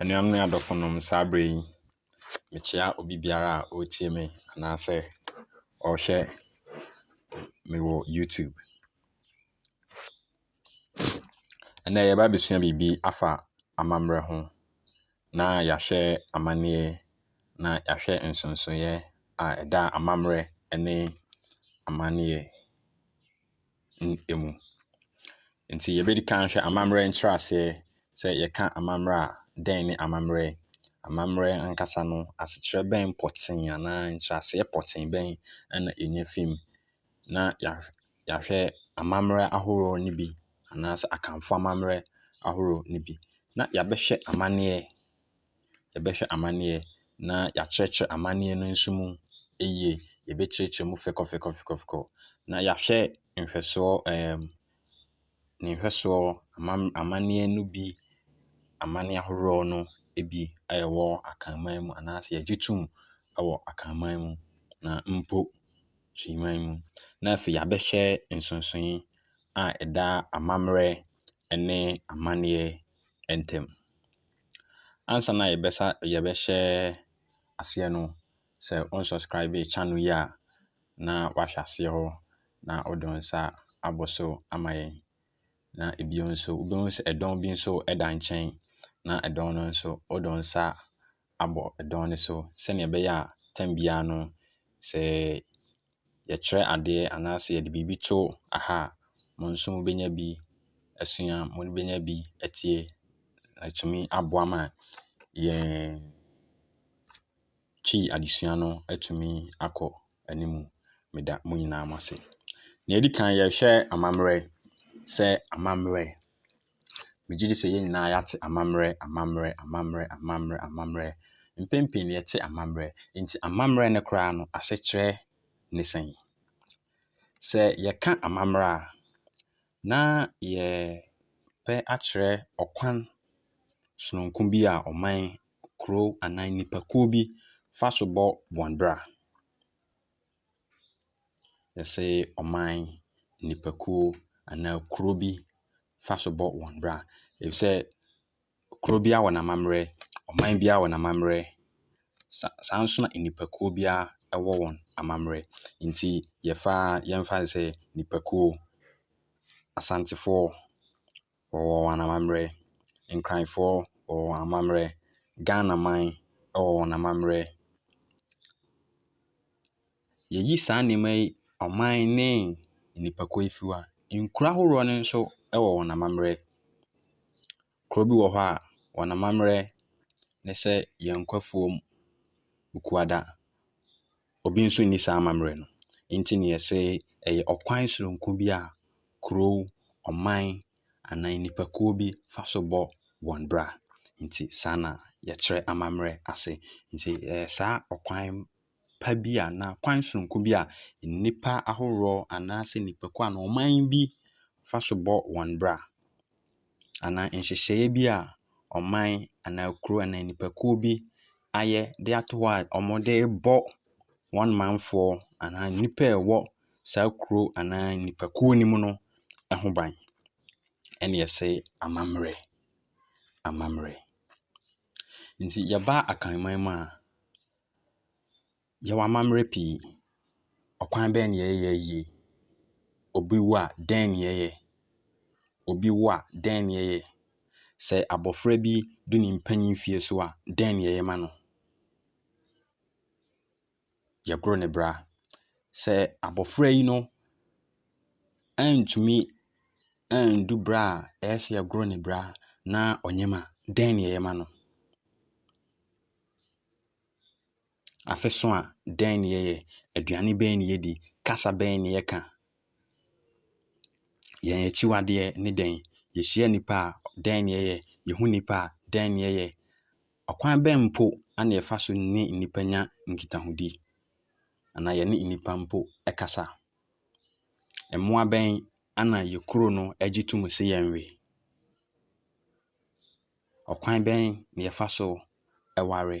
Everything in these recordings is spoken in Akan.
Anuanom ne adɔfonom, saa berɛ yi, mekyea obi biara a ɔretie me anaasɛ ɔrehwɛ me wɔ YouTube. Ɛnnɛ yɛreba abɛsua biribi afa amammerɛ ho. na yɛahwɛ amanneɛ, na yɛahwɛ nsonsonoeɛ a ɛda amammerɛ ne amanneɛ n mu. Nti yɛbɛdi kan ahwɛ amammerɛ nkyerɛaseɛ, sɛ yɛka amammerɛ a, dɛn ne amammerɛ? Amammerɛ ankasa no, asekyerɛ bɛn pɔtee anaa nkyerɛaseɛ pɔtee bɛn na ɛnya fi mu? na yɛahwɛ amammerɛ ahoroɔ no bi anaasɛ Akanfo amammerɛ ahoroɔ no bi, na yɛabɛhwɛ amanneɛ, yɛbɛhwɛ amanneɛ na yɛakyerɛkyerɛ amanneɛ no nso mu yie. Yɛbɛkyerɛkyerɛ mu fɛkɔfɛkɔfɛkɔ na yɛahwɛ nhwɛsoɔ ɛɛm . ne nhwɛsoɔ amam amanneɛ no bi amanneɛ ahoroɔ no bi a ɛwɔ Akanman mu anaasɛ yɛgye tom wɔ Akanman mu na mpo Suman mu. Na afei yɛabɛhwɛ nsonsonoe a ɛda amammerɛ ne amanneɛ ntam. Ansa na yɛbɛsa yɛbɛhyɛ aseɛ no, sɛ wo unsubscribe channel yi a. na wahwɛ aseɛ hɔ na ɔde nsa abɔ so ama yɛn. Na bio nso, wobɛhu sɛ ɛdɔn bi nso da nkyɛn, na ɛdɔn no nso, wode wo nsa abɔ ɛdɔn no so sɛdeɛ ɛbɛyɛ a tam biara no, sɛ yɛkyerɛ adeɛ anaasɛ yɛde biribi to ha a, mo nso mobɛnya bi asua, mobɛnya bi atie, na atumi aboa ma yɛn. Twi adesua no atumi akɔ anim. Meda mo nyinaa mo ase. Nea ɛdi kan, yɛrehwɛ amammerɛ sɛ amammerɛ. Megye di sɛ yɛn nyinaa yɛate amammerɛ, amammerɛ, amammerɛ, amammerɛ, amammerɛ. Mpɛn pii no yɛte amammerɛ. Enti amammerɛ no koraa no, asekyerɛ ne sɛn? Sɛ yɛka amammerɛ a, na yɛrepɛ akyerɛ ɔkwan sononko bi a ɔman kurow anaa nnipakuo bi fa so bɔ wɔn bra. Yɛse ɔman, nnipakuo anaa kuro bi fa so bɔ wɔn bra. Efisɛ kuro biara wɔ n'amammerɛ, ɔman biara wɔ n'amammerɛ, sa saa ara nso na nnipakuo biara wɔ wɔn amammerɛ. Enti yɛfa yɛmfa no sɛ nnipakuo, Asantefoɔ, wɔwɔ wɔn amammerɛ, Nkranfoɔ wɔwɔ wɔn amammerɛ, Ghana man wɔwɔ wɔn amammerɛ. Yɛyi saa nneɛma yi ɔman ne nnipakuo yi firi hɔ a, nkuro ahodoɔ no nso wɔ wɔn amammerɛ. Kuro bi wɔ hɔ a, wɔn amammerɛ ne sɛ Yankwa afuom Bukuada. obi nso nni saa amammerɛ no. Enti na yɛse ɛyɛ ɔkwan sononko bi a kurow, ɔman anaa nnipakuo bi fa so bɔ wɔn bra. Enti saa na yɛkyerɛ amammerɛ ase. Enti ɛyɛ saa ɔkwan pa bi a anaa kwan sononko bi a nnipa ahoroɔ anaasɛ nnipakuo anaa ɔman bi fa so bɔ wɔn bra. anaa nhyehyɛeɛ bi a ɔman anaa kuro anaa nnipakuo bi ayɛ de ato hɔ a wɔde rebɔ wɔn manfoɔ anaa nnipa a ɛwɔ saa kuro anaa nnipakuo no mu no ho ban. Ɛna yɛse amammerɛ, amammerɛ. Nti yɛba Akanman mu a. Yɛwɔ amammerɛ pii. Ɔkwan bɛn na yɛyɛ yie? Obi wu a, dɛn na yɛyɛ? Obi wu a, dɛn na yɛyɛ? Sɛ abɔfra bi du ne mpanin mfeɛ so a, dɛn na yɛyɛ ma no? Yɛgoro ne bra. Sɛ abɔfra yi no antumi andu berɛ a ɛsɛ sɛ yɛgoro ne bra na ɔnyem a, dɛn na yɛyɛ ma no? Afe so a, dɛn na yɛyɛ? Aduane bɛn na yɛdi? Kasa bɛn na yɛka? Yɛn akyiwadeɛ ne dɛn? Yɛhyia nnipa a, dɛn na yɛyɛ? Yɛhu nnipa a, dɛn na yɛyɛ? Ɔkwan bɛn mpo na yɛfa so ne nnipa nya nkitahodi anaa yɛne nnipa mpo kasa? Mmoa bɛn na yɛn kuro no gye tom sɛ yɛnwe? Ɔkwan bɛn na yɛfa so ware?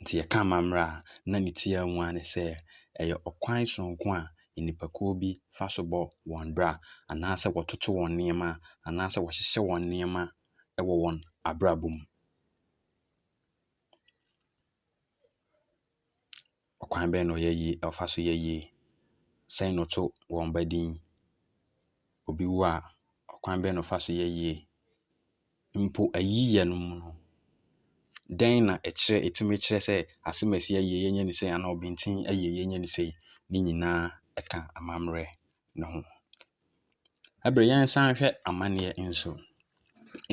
Nti yɛka amammerɛ a, na ne tiaa mu ara ne sɛ ɛyɛ ɔkwan sononko a nnipakuo bi fa so bɔ wɔn bra anaasɛ wɔtoto wɔn nneɛma anaasɛ wɔhyehyɛ wɔn nneɛma wɔ wɔn abrabɔ mu. Ɔkwan bɛn na ɔyɛ yie, ɔfa so yɛ yie? Sɛn na ɔto wɔn ba din? Obi wu a, ɔkwan bɛn na ɔfa so yɛ yie? Mpo ayiyɛ no mu no, dɛn na ɛkyerɛ, ɛtumi kyerɛ sɛ asɛm a ɛsɛ sɛ yɛyɛ yɛnyɛ no sei anaa ɔbintin ayɛ yie yɛnyɛ no sei? Ne nyinaa ka amammerɛ no ho. bere yɛnsan hwɛ amanneɛ nso.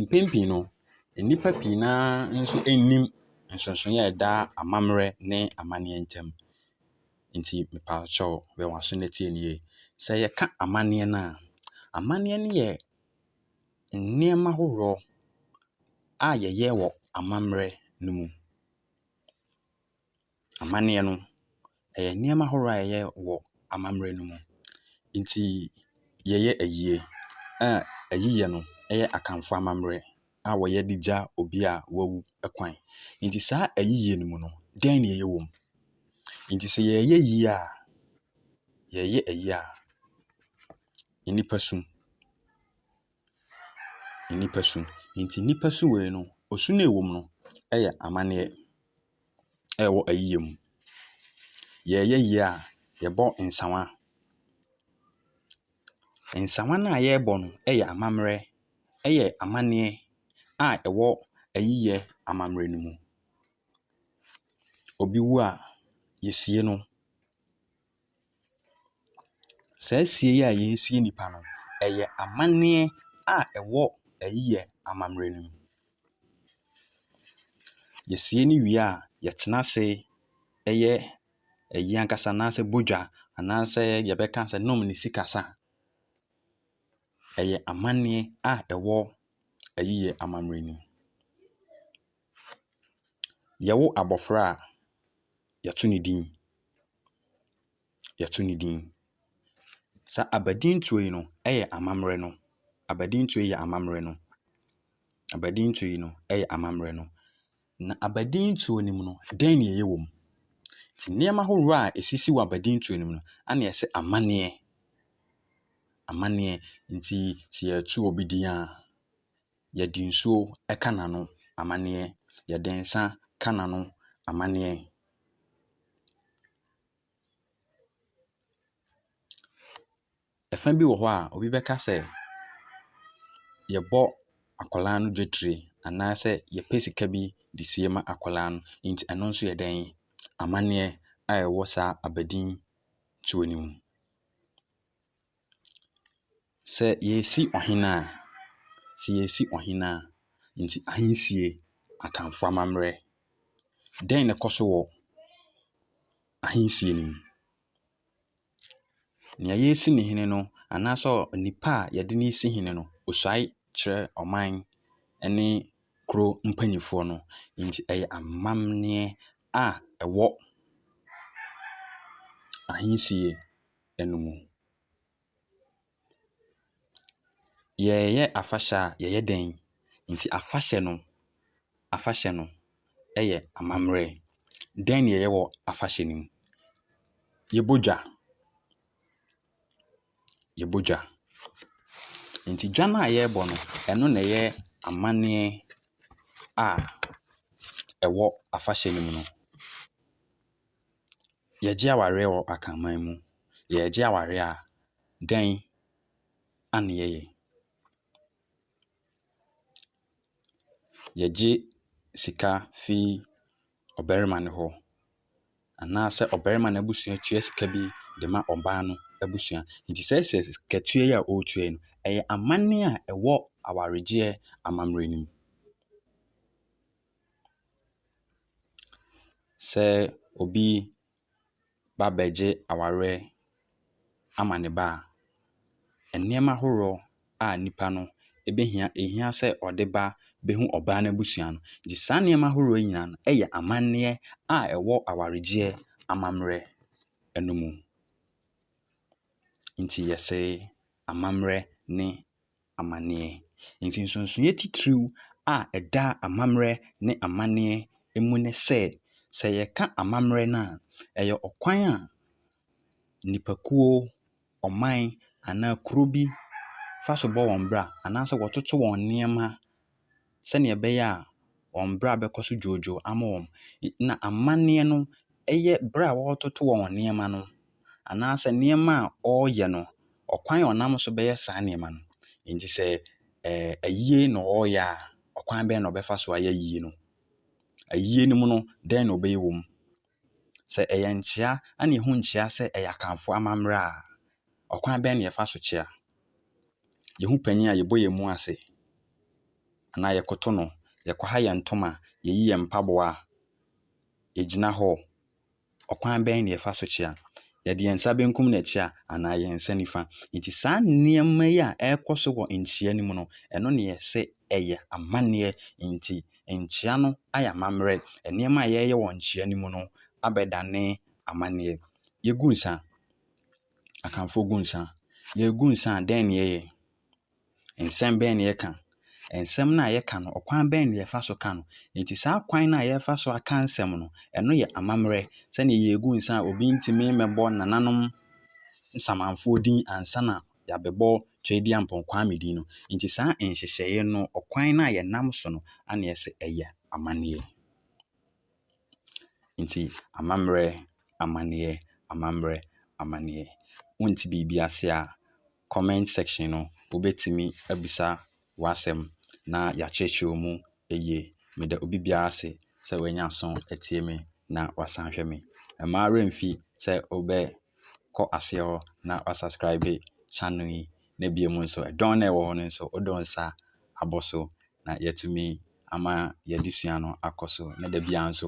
Mpɛn pii no, nnipa pii no ara nso nnim nsonsonoe a ɛda amammerɛ ne amanneɛ ntam. Enti mepakyɛw, wɔ w'aso na tie no yie. Sɛ yɛka amanneɛ no a, amanneɛ no yɛ nneɛma ahoroɔ a yɛyɛ wɔ amammerɛ no mu. amanneɛ no, ɛyɛ nneɛma ahoroɔ a ɛyɛ wɔ amammerɛ no mu. Nti yɛyɛ ayie a ayiyɛ no yɛ Akanfoɔ amammerɛ a wɔyɛ de gya obi a wawu kwan. Nti saa ayiyɛ no mu no, dɛn na ɛyɛ wɔ mu? Nti sɛ yɛreyɛ ayie a, yɛreyɛ ayie a, nnipa su. Nnipa su. Nti nnipa su wei no, osu no a ɛwɔ mu no yɛ amanneɛ. ɛwɔ ayiyɛ mu. Yɛreyɛ yie a, yɛbɔ nsawa. Nsawa no a yɛrebɔ no yɛ amammerɛ, ɛyɛ amanneɛ a ɛwɔ ayiyɛ amammerɛ no mu. Obi wu a, yɛsie no. Saa sie yi a yɛresie nnipa no, ɛyɛ amanneɛ a ɛwɔ ayiyɛ ammamerɛ no mu. Yɛsie no wie a, yɛtena ase yɛ ayi ankasa anaasɛ bɔ dwa anaasɛ yɛbɛka sɛ nom ne sikasa. Ɛyɛ amanneɛ a ɛwɔ ayiyɛ ammamerɛ no mu. Yɛwo abɔfra a, yɛto no din. Yɛto no din. Sɛ abadintoɔ yi no yɛ amammerɛ no. Abadintoɔ yi yɛ amammerɛ no. Abadintoɔ yi no yɛ amammerɛ no. Na abadintoɔ no mu no, dɛn na ɛyɛ wɔ mu? Nti nneɛma ahodoɔ a ɛsisi wɔ abadintoɔ no mu no, ana yɛse sɛ amanneɛ. Amanneɛ. Nti sɛ yɛto obi din a. Yɛde nsuo ka n'ano amaneɛ. Yɛde nsã ka n'ano amaneɛ. Ɛfa bi wɔ hɔ a, obi bɛka sɛ, yɛbɔ akwadaa no dwetire anaasɛ yɛpɛ sika bi de sie ma akwadaa no. Enti ɛno nso yɛ dɛn? Amaneɛ a ɛwɔ saa abadintoɔ no mu. Sɛ yɛresi ɔhene a, sɛ yɛresi ɔhene a, nti ahensie, Akanfoɔ amammerɛ. Dɛn na ɛkɔ so wɔ ahensie no mu? Nea yɛresi no hene no anaasɛ onipa a wɔde no resi hene no, ɔsuae kyerɛ ɔman ne kuro mpanimfoɔ no. Nti ɛyɛ amammerɛ a ɛwɔ ahensie. no mu. Yɛreyɛ afahyɛ a, yɛyɛ dɛn? Enti afahyɛ no, afahyɛ no yɛ amammerɛ. Dɛn na yɛyɛ wɔ afahyɛ no mu? Yɛbɔ dwa. Yɛbɔ dwa. Enti dwa no a yɛrebɔ no, ɛno na ɛyɛ amanneɛ a ɛwɔ afahyɛ no mu no. Yɛgye awareɛ wɔ akanman mu. Yɛgye awareɛ a, dɛn na yɛyɛ? Yɛgye sika fi ɔbarima no hɔ anaasɛ ɔbarima no abusua tua sika bi de ma ɔbaa no abusua. Nti sɛ sɛ sikatua yi a ɔretua yi, ɛyɛ amanneɛ a ɛwɔ awaregyeɛ amammerɛ no mu. sɛ obi ba bɛgye awareɛ ama ne ba a, nneɛma ahoroɔ a nipa no bɛhia, ɛhia sɛ ɔde ba bɛhu ɔbaa no abusua no. Nti saa nneɛma ahoroɔ yi nyinaa no yɛ amanneɛ a ɛwɔ awaregyeɛ amammerɛ no mu. Nti yɛse amammerɛ ne. amanneɛ. Enti nsonsonoeɛ titiriw a ɛda amammerɛ ne amanneɛ mu ne sɛ, sɛ yɛka amammerɛ no a, ɛyɛ ɔkwan a nnipakuo, ɔman anaa kuro bi fa so bɔ wɔn bra anaasɛ wɔtoto wɔn nneɛma. sɛdeɛ ɛbɛyɛ a wɔn bra bɛkɔ so dwoodwoo ama wɔn. Na amanneɛ no yɛ berɛ a wɔretoto wɔn nneɛma no anaasɛ nneɛma a wɔreyɛ no, ɔkwan a wɔnam so bɛyɛ saa nneɛma no. Enti sɛ ayie na wɔreyɛ a, ɔkwan bɛn na wɔbɛfa so ayɛ ayie no. Ayie no mu no, dɛn na wɔbɛyɛ wɔ mu. Sɛ ɛyɛ nkyea a na yehu nkyea sɛ ɛyɛ Akanfoɔ amammerɛ a, ɔkwan bɛn na yɛfa so kyea? Yehu panin a, yɛbɔ yɛn mu ase anaa yɛkoto no, yɛkwaha yɛn ntoma, yɛyi yɛn mpaboa, yɛgyina hɔ. Ɔkwan bɛn na yɛfa so kyea? Yɛde yɛn nsa benkum na ɛkyea anaa yɛn nsa nifa? Enti saa nneɛma yi a ɛrekɔ so wɔ nkyea no mu no, ɛno na yɛse ɛyɛ amanneɛ nti, nkyea no ayɛ amammerɛ. Nneɛma a yɛyɛ wɔ nkyea no mu no abɛdane amanneɛ. Yegu nsa. Akanfoɔ gu nsa. Yɛregu nsa a, dɛn na yɛyɛ? Nsɛm bɛn na yɛka? Nsɛm no a yɛka no, ɔkwan bɛn na yɛfa so ka no? Enti saa kwan no a yɛfa so aka nsɛm no, ɛno yɛ amammerɛ. Sɛnea yɛregu nsa a, obi ntumi mmɛbɔ nananom Nsamanfoɔ din ansa na yɛabɛbɔ Tweaduampɔn Kwame din no. Nti saa nhyehyɛeɛ no, ɔkwan no a yɛnam so no, a na yɛse ɛyɛ amanneɛ. Nti amammerɛ, amanneɛ, amammerɛ, amanneɛ. Wonte biribi ase a, comment section no, wobɛtumi abisa w'asɛm na yɛakyerɛkyerɛ mu Eye, meda obi biara ase sɛ wanya aso atie me na wasan ahwɛ me. Mma wo werɛ mfi sɛ wobɛkɔ aseɛ hɔ na woasubscribe channel yi na bio mu nso ɛdɔn no a ɛwɔ hɔ no nso wode wo nsa abɔ so na yɛatumi ama yɛn adesua no akɔ so na da biara nso